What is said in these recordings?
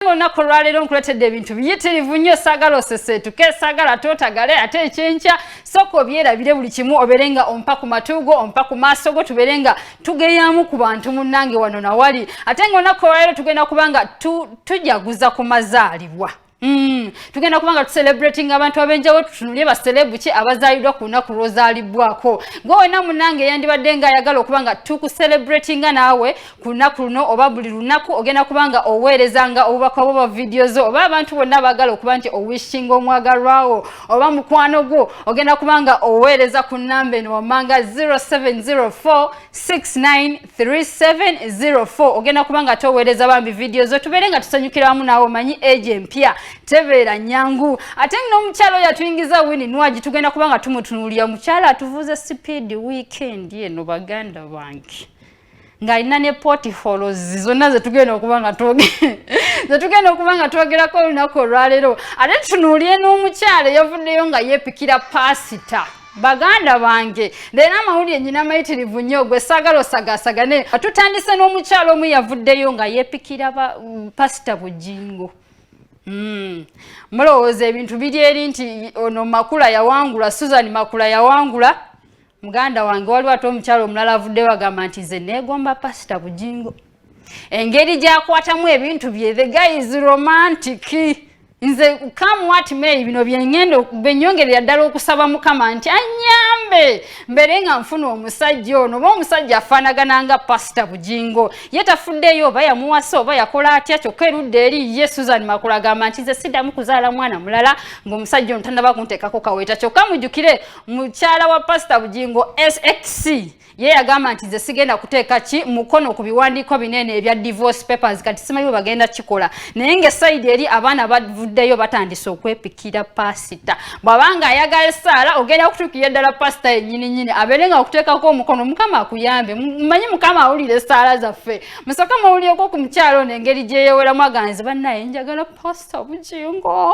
Nange olunaku olwaleero nkuletedde ebintu biyitirivu nnyo saagala oseseetuke saagala tootagale ate ekyenkya sooka obyerabire buli kimu obeere nga ompa ku matu go ompa ku maaso go tubeere nga tugeyaamu ku bantu munnange wano nawali ate nga olunaku olwaleero tugenda kuba nga tujaguza ku mazaalibwa Mm. tugenda kubanga tucelebrating abantu abenjawo tutunulye baselebu ki abazaalidwa ku lunaku lwozaalibwako gwe wena munange yandibadde nga ayagala okubanga tukucelebratinga naawe ku lunaku luno oba buli lunaku ogenda kubanga oweereza nga obubaka bwo ba vidiyo zo oba abantu bonna baagala okuba nti owishinga omwagalwawo oba mukwano gwo ogenda kubanga oweereza ku namba eno wammanga 0704693704 ogenda kubanga toweereza bambi vidiyo zo tubeere nga tusanyukira wamu naawe omanyi egi empya tebeera nyangu ate nga n'omukyalo oyo atuyingiza wini nwagi tugenda kubanga tumutunuulira mukyalo atuvuuza sipiidi wiikendi eno baganda bange ng'alina ne portifolos zonna zetugenda okuba nga zetugenda okuba nga twogerako olunaku olwaleero ate tunuulire n'omukyalo eyavuddeyo nga yeepikira paasita baganda bange leero amawulire nyina mayitirivu nnyo gwe saagala osagasagane tutandise n'omukyalo omu yavuddeyo nga yeepikira mm, pasita bujingo Hmm. mulowooza ebintu biri eri nti ono makula yawangula susan makula yawangula muganda wange waliwo ate omukyalo omulala avuddeyo agamba nti nze neegomba pasita bujingo engeri gyakwatamu ebintu bye the guy is romantic nze come what may bino byengenda benyongerera ddala okusaba mukama nti anyambe mbere nga nfuna omusajja ono oba omusajja afaanagana nga pasita bujingo ye tafuddeyo oba yamuwasa oba yakola atya kyokka erudde eri ye susan makula agamba nti nze siddamu kuzaala mwana mulala ng'omusajja ono tanaba kunteekako kaweeta kyokka mujjukire mukyala wa pasita bugingo sxc ye yagamba nti nze sigenda kuteeka ki mukono ku biwandiiko binene ebya divorce papers kati simanyiwe bagenda kikola naye nga esaidi eri abaana bavuddeyo batandise okwepikira pasita bwabanga ayagala esaala ogenda okutuukira eddala pasita yenyini nyini abeere nga okuteekako omukono mukama akuyambe mumanyi mukama awulira esaala zaffe musaka muwulireko ku mukyalo ono engeri gyeyeweramu aganzi bannaye njagala pasita bugingo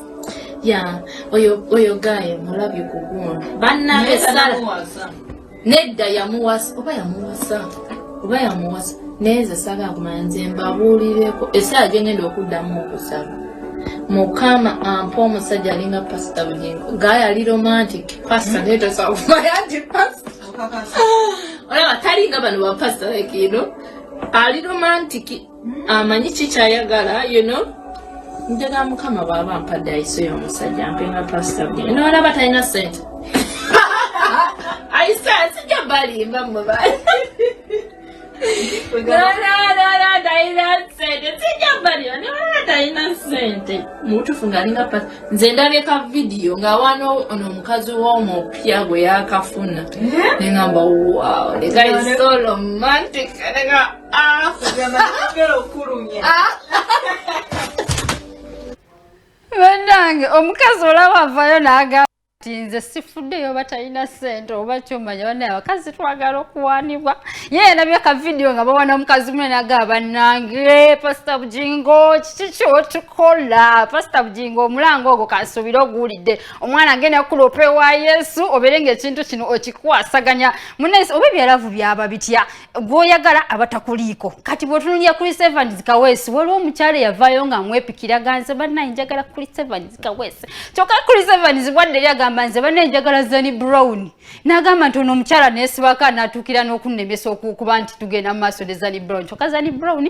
ya oyo oyo gaye mulabye kugundi banange sala nedda yamuwasa oba yamuwasa oba yamuwasa naye nze sala akumanya nze mbabuulireko esaala gye ngenda okuddamu okusaba mukama ampa omusajja alinga pasita bugingo gaye ali romantic pasita hmm? naye tosobola kumanya nti pasita olaba talinga bano bapasita like ino ali romantic amanyi ah, kikyayagala you know njagala mukama bwaba ampadde ayiso y'omusajja mpe nga pasita bwe nolaba talina sente ayise asijja balimba mwe bali talina sente mubutufu ngaalinga pa nze ndabeka vidiyo ngaawaana ono omukazi womupya gwe yakafuna eh? nengamba wow the guy is so romantic banange omukazi olaba avayo nagamba ti nze sifuddeyo oba talina sente oba kyomanya banaye abakazi twagala okuwanibwa yeye nabye ka vidiyo nga bawana omukazi mune naga banange pasita bujingo kiki kyotukola pasita bujingo omulanga ogwo kansuubire oguwulidde omwana agenda kukula opewa yesu obere ngaekintu kino okikwasaganya mune oba ebyalavu byaba bitya gwoyagala abatakuliiko kati bwotunulira chris evans kawesi waliwo omukyalo eyavaayo nga mwepikira ganze banaye njagala chris evans kawesi kyoka chris evans bwadde eri agamba nze banaye njagala zani brown nagamba nti ono omukyala nesibaka natuukira n'okunnemesa okukuba nti tugenda mu maaso ne zani brown kyoka zani brown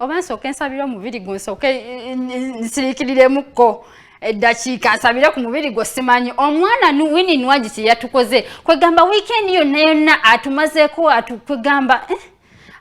oba nsooke nsabire omubiri gwo nsooke eh, eh, nsiriikiriremukko eddakiika nsabire ku mubiri gwo simanyi omwana wini nwagi kye yatukoze kwegamba wiikendi yonna yonna atumazeeko kwegamba eh?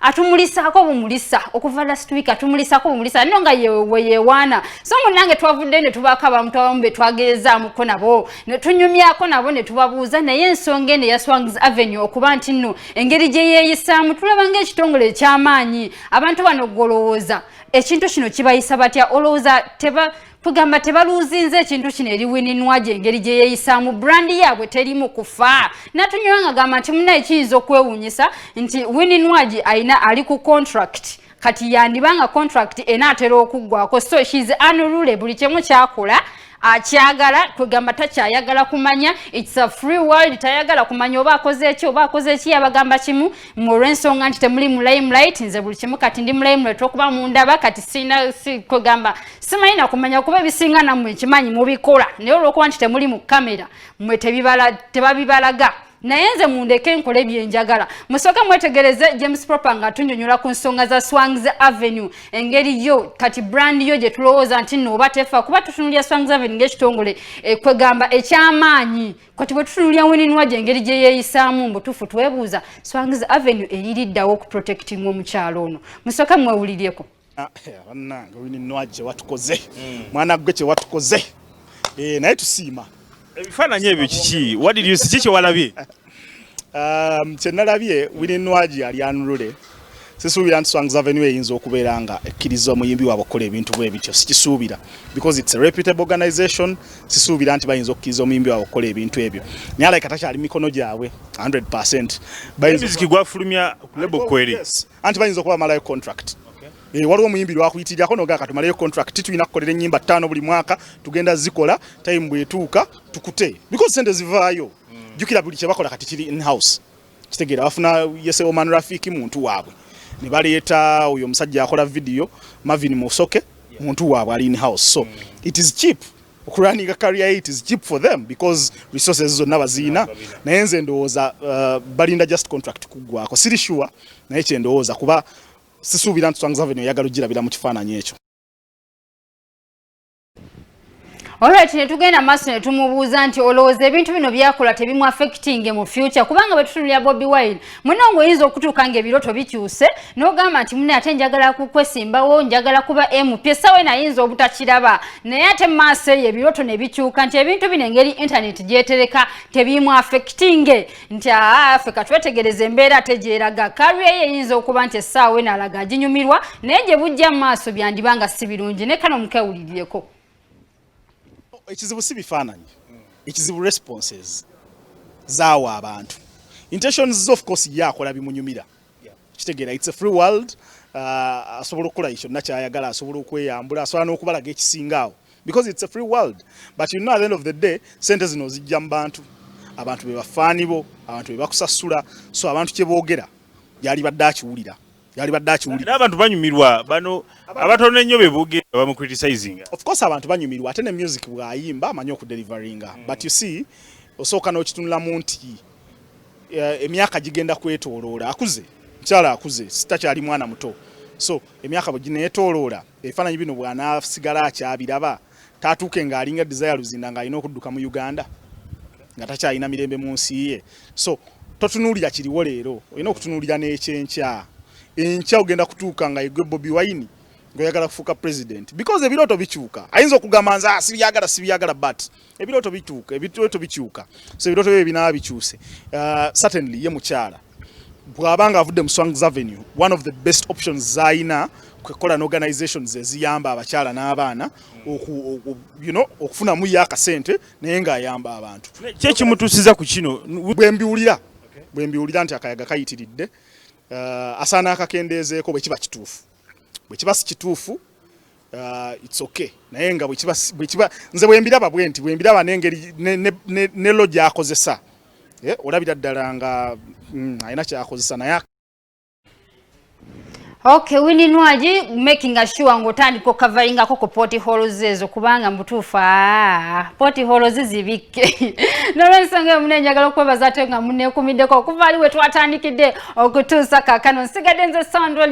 atumulisaako bumulisa okuva last week atumulisaako bumulisa no nga weyewaana so munange twavudde ne tubaako abamu twabamu be twageezaamuko nabo ne tunyumyako nabo ne tubabuuza naye ensonga eno ya swangis avenue okuba nti nno engeri gye yeeyisaamu tulaba ngaekitongole eky'amaanyi abantu bano golowooza ekintu kino kibayisa batya olowooza teba tugamba tebaluuzinze ekintu kino eri wininwaje engeri gye yeeyisaamu brandi yaabwe terimu kufa natunywa nga gamba nti munaye kiyinza okwewuunyisa nti wininwaje alina ali ku contract kati yandibanga contract enaatera okuggwako so shes anulule buli kyemu kyakola akyagala kwegamba takyayagala kumanya its a free world tayagala kumanya oba akoze eki oba akoze eki yabagamba kimu mulwensonga nti temuli mu limelight nze buli kimu kati ndi mu limelight okuba mundaba kati sina si, kwegamba simanyi nakumanya kuba ebisinga namwe nkimanyi mubikola naye olwokuba nti temuli mu kamera mwe tebibala tebabibalaga naye nze mundeke nkole byenjagala musooke mwetegereze james proper nga atunyonyola ku nsonga za swangs avenue engeri yo kati brand yo gye tulowooza nti nooba tefa kuba tutunulya swangs avenue ng'ekitongole eh, kwegamba ekyamaanyi kati bwe tutunulya weninwa gye engeri gye yeeyisaamu mbutuufu twebuuza swangs avenue eririddawo okuprotectinga omukyalo ono musooke mwewuliryeko Ah, eh, bannange wini nwa kyewatukoze hmm. mwana gwe kyewatukoze eh, naye tusiima ebifaananyi ebyo kiki wadius ki kyewalabye um, kyenalabye wini nwagi yali anulule sisuubira nti songs avenue eyinza okubeera nga ekkiriza omuyimbi waabwe okukola ebintu bwe bityo sikisuubira because its a reputable organization sisuubira nti bayinza okukkiriza omuyimbi waabwe okukola ebintu ebyo naye alaika takyali mikono gyabwe 100 bayinzikigwafulumya kulebo kweri yes. anti bayinza okuba malayo contract Eh, waliwo omuyimbi lwakuyitirirako nogaa katumaleyo contract tulina kukolera enyimba ttaano buli mwaka tugenda zikola time bwetuuka tukute because sente zivaayo mm. jukira buli kyebakola kati kiri inhouse kitegeera bafuna yeseoman rafiki muntu waabwe ne baleeta oyo omusajja akola vidiyo mavin musoke muntu waabwe ali inhouse so mm. it is cheap okulwaninga career it is cheap for them because resources zonna baziina naye nze ndowooza uh, balinda just contract kuggwako siri sure naye kyendowooza kuba sisuubira nti Swangz Avenue eyagala okugirabira mu kifaananyi ekyo Alright ne tugenda maso ne tumubuuza nti olowooza ebintu bino byakola tebimu affecting mu future kubanga bwe tutunulira Bobby Wine muno ng'oyinza okutuuka ng'ebirooto bikyuse n'ogamba nti mune ate njagala kukwesimbawo njagala kuba mp esawa eno ayinza obutakiraba naye ate maaso eyo ebirooto ne bikyuka nti ebintu bino engeri intaneti gyetereka tebiimu afekitinge nti afe katwetegereza embeera ate gyeraga kariya ye eyinza okuba nti essaawa eno alaga aginyumirwa naye gye bujja mu maaso byandiba nga si birungi ne kano mukewulirireko Ekizibu si bifaananyi, ekizibu responses zaawa abantu intentions zo of course ye akola bimunyumira kitegeera it's a free world uh, asobola okukola kyonna kyayagala asobola okweyambula asobola n'okubalaga ekisingaawo because it's a free world but you know at the end of the day sente zino ozijja mu bantu abantu be bafaani bo abantu be bakusasula so abantu kye boogera yalibadde akiwulira yalibadde akiwulira n'abantu banyumirwa bano abatono ennyo be boogera bamucriticising of course abantu banyumirwa ate ne music bw'ayimba amanyi okudelivaringa mm. but you see osooka n'okitunulamu nti eh, emyaka gigenda kwetooloola akuze mukyala akuze sitakyali mwana muto so emyaka bwe gineetooloola ebifaananyi bino bw'anaasigala akyabiraba tatuuke nga alinga desire luzinda nga alina okudduka mu uganda nga takyalina mirembe mu nsi ye so totunuulira kiriwo leero olina okutunuulira n'ekyenkya enkya ogenda kutuuka nga egwe bobi wine ngaoyagala kufuuka president because ebirooto bikyuka ayinza okugamba nze ah, sibyagala sibyagala but ebirooto bituuka ebirooto bikyuka so ebirooto byo ebinaba bikyuse uh, certainly ye mukyala bwabanga avudde mu Swangz Avenue one of the best options zayina kwekola na organizations eziyamba abakyala n'abaana you know okufunamu yo akasente naye ng'ayamba abantu kyekimutuusiza ku kino bwembiwulira bwembiwulira nti akayaga kayitiridde uh, asaana akakendeezeeko bwe kiba kituufu bwe kiba si kituufu uh, it's okay naye nga bwekiba nze bwembiraba bwe nti bwembiraba nengeri ne lo gyakozesa eh, olabira ddala nga mm, alina kyakozesa naye Okay, wini nwaji making a sure ngo tandi ko covering ako ko poti holo zezo kubanga mbutufa ah, poti holo zizi bike nore nsanga ya mune njagalo kwa bazate nga mune kumide kwa kufali wetu atandikide okutusa kakano sigadenze sound wali